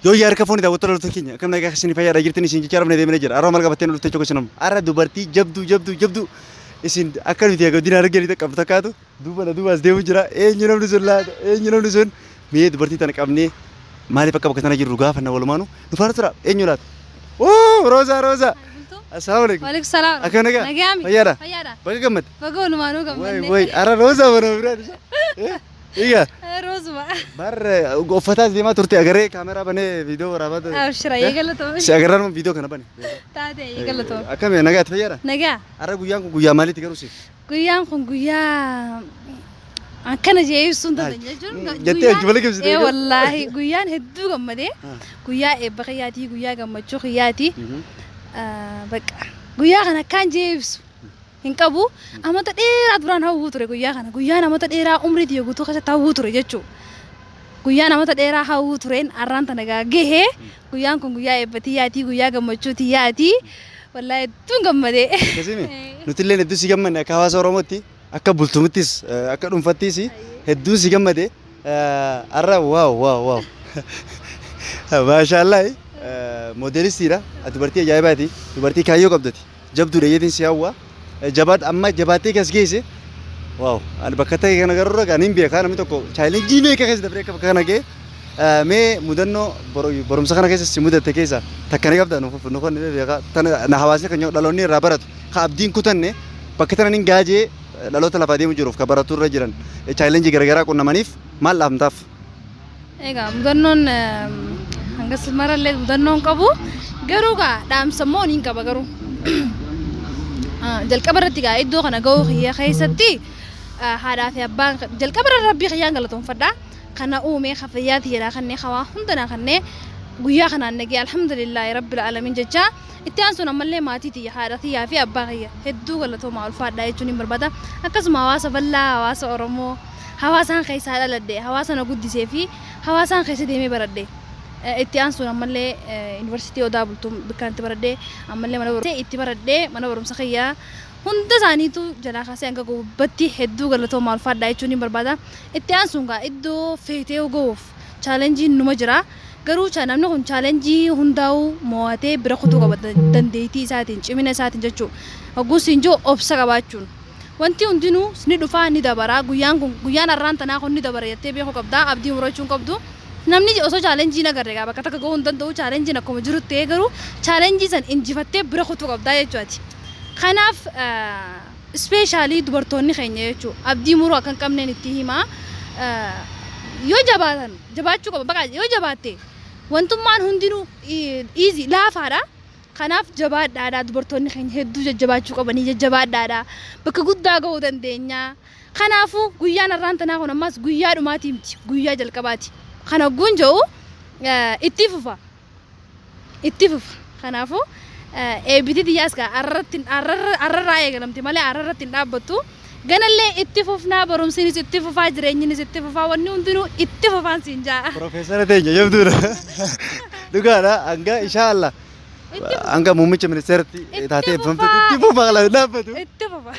Yoo yaa harka foonii daawwattoota loltoota keenya akkam nagaa keessanii fayyaadha jirtan isin jechaa rafnee deemnee jira. Aroo maal qabattee nu dhuftee chokka isin amma. Ara dubartii jabduu jabduu jabduu isin akka nuti egaa diinaa arganii takka takkaatu duuba na duubaas deemu jira. Eenyu namni sun laata? Eenyu namni sun? Mee dubartii tana qabnee maaliif akka bakka tana jirru gaafanna walumaanu nu faana tura. Eenyu laata? Oo Roosaa Roosaa. Assalaamu alaikum. Waalaikum salaam. Akkam nagaa? Nagaami. Fayyaadha? Fayyaadha. Baga gammadde. Baga walumaanuu Way gammanne. way ara Roosaa mana biraa. Iyya. Roozuma. Bar uffataa as deemaa turte agaree kaameraa banee viidiyoo waraabaa ture. Abshira Eh? eegalatoomne. Si agarraa nama viidiyoo kana bane. Taate eegalatoomne. Akkami nagaa itti fayyada? Nagaa. Har'a guyyaan kun guyyaa maaliiti garuu siif? Guyyaan kun guyyaa akkana jee ibsuun Maal? dandeenye jechuun Mm, guyyaa- jettee hojii malee ibsitee ee egaa? wallaahi guyyaan hedduu gammadee Ah. guyyaa eebba kiyyaatii guyyaa gammachuu kiyyaatii Mhm. ah, bakka guyyaa kana akkaan jee ibsu hin qabu. Amata dheeraa duraan hawwuu ture guyyaa kana. Guyyaan amata dheeraa umrii tiyya guutuu keessatti hawwuu ture jechuu. Guyyaan amata dheeraa hawwuu tureen arraan tana gaa gahe. Guyyaan kun guyyaa eebba tiyyaatii, guyyaa gammachuu tiyyaatii. Wallaahi hedduun gammadee. Akkasimi nutillee hedduu si gammanne akka hawaasa Oromootti akka bultumittis eh, akka dhuunfattis hedduun si gammade Eh, arra waaw waaw waaw maashaallaah modeelistiidha dubartii ajaa'ibaati dubartii kaayyoo qabdati Jabdudha jetin si hawwa. Jabaadhu amma jabaattee kas geesse. Waaw ani bakka akka ta'e kana garuu ani hin beekaa namni tokko chaayilenjii meeqa keessa dabree akka bakka kana ga'e Eh, mee mudannoo bor- barumsa kana keessa si mudatte keessa takka ni qabda nu nu kan ni beekaa tana na hawaasni kan dhaloonni irraa baratu ka abdiin kutanne bakka tana ni gaajee dhaloota lafaa deemu jiruuf ka baratu irra jiran chaayilenjii garaagaraa qunnamaniif maal dhaamtaaf? Egaa mudannoon hanga marallee mudannoon qabu garuu gaa dhaamsa immoo niin qaba garuu jalqaba irratti gaa iddoo kana ga'uu kiyya keessatti haadhaa fi abbaan jalqaba irra rabbii kiyyaan galatoomfadha kana uume ka fayyaa tiyyaraa kannee hawaa hundanaa kannee guyyaa kanaan nagee alhamdulillah rabbil alamin jecha itti aansuun ammallee maatii tiyya haadha tiyyaa fi abbaa kiyya hedduu galatoomaa ulfaadhaa jechuun hin barbaada akkasuma hawaasa bal'aa hawaasa oromoo hawaasaan keessaa dhaladhe, hawaasa na guddisee fi hawaasaan keessa deemee baradhe. Itti aansuun ammallee Yuunivarsiitii Odaa Bultum bikkaan itti baradhe ammallee mana barumsa itti baradhe mana barumsa kiyya hunda isaaniitu jalaa kaasee hanga gubbatti hedduu galatoomaa ulfaadhaa jechuun hin barbaada. Itti aansuun gaa iddoo feetee gahuuf chaalenjiin numa jira. Garuu cha- namni kun chaalenjii hundaa'uu mo'atee bira kutuu qaba da- dandeettii isaatiin cimina isaatiin jechuu. Hogguus siin jiru obsa qabaachuun. Wantii hundinuu ni dhufaa ni dabaraa guyyaan kun guyyaan arraan tanaa kun ni dabara jattee beekuu qabdaa abdii murachuu hin qabdu namni osoo challenge hin agarre egaa bakka takka gahuu hin danda'uu challenge akkuma jirutti ta'ee garuu challenge san injifattee bira kutuu qabdaa jechuu ati kanaaf specially dubartoonni keenya jechuu abdii muruu akka hin qabneen ittii himaa yoo jabaatan jabaachuu qaban baqaa yoo jabaatte wantummaan hundinuu easy laafaadha Kanaaf jabaadhaadha dubartoonni keenya hedduu jajjabaachuu qabanii jajjabaadhaadha bakka guddaa gahuu dandeenya kanaafu guyyaan har'aan tanaa kun ammaas guyyaa dhumaatii miti guyyaa jalqabaati kan hogguun ja'u ittii fufa ittii fufa kanaafu eebitii tiyyaas kaa arrarratti arrarraa eegalamte malee arrarratti hin dhaabbattu Ganallee itti fufnaa barumsinis itti fufaa jireenyinis itti fufaa wanni hundinuu itti fufaan siin ja'a. Profeesara teenya jabduudha. Dhugaadha hanga inshaa Allah hanga muummicha ministeeratti taatee eebbifamtutti itti fufaa laata dhaabbatu. Itti fufa.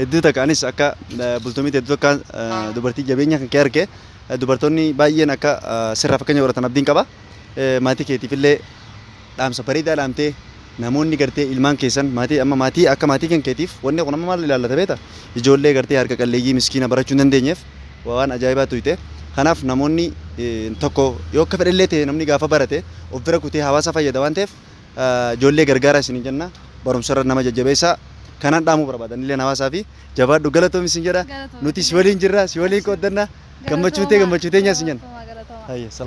Hedduu takka anis akka eh, bultumitti hedduu takka eh, dubartii jabeenya kan kee arge eh, dubartoonni baay'een akka eh, sirraa fakkeenya godhatan abdiin qaba. Eh, Maatii keetiifillee dhaamsa bareedaa dhaamtee namoonni gartee ilmaan keessan maatii amma maatii akka maatii kan keetiif wanni kun amma maal ilaallata beeta ijoollee gartee harka qalleeyyii miskiina barachuu hin dandeenyeef waa waan ajaa'ibaa tuyte kanaaf namoonni eh, tokko yoo akka fedhellee ta'e namni gaafa barate of bira kutee hawaasa fayyada waan ta'eef ah, ijoollee gargaaraa isin hin jenna barumsarra nama jajjabeessaa kanaan dhaamuu barbaadan illee hawaasaa fi jabaadhu galatoomi isin jedha Galatoomi. nuti si waliin jirra si waliin qooddanna gammachuu tee gammachuu teenyaa isin jenna. Galatoomaa, galatoomaa. Hayya, salaam.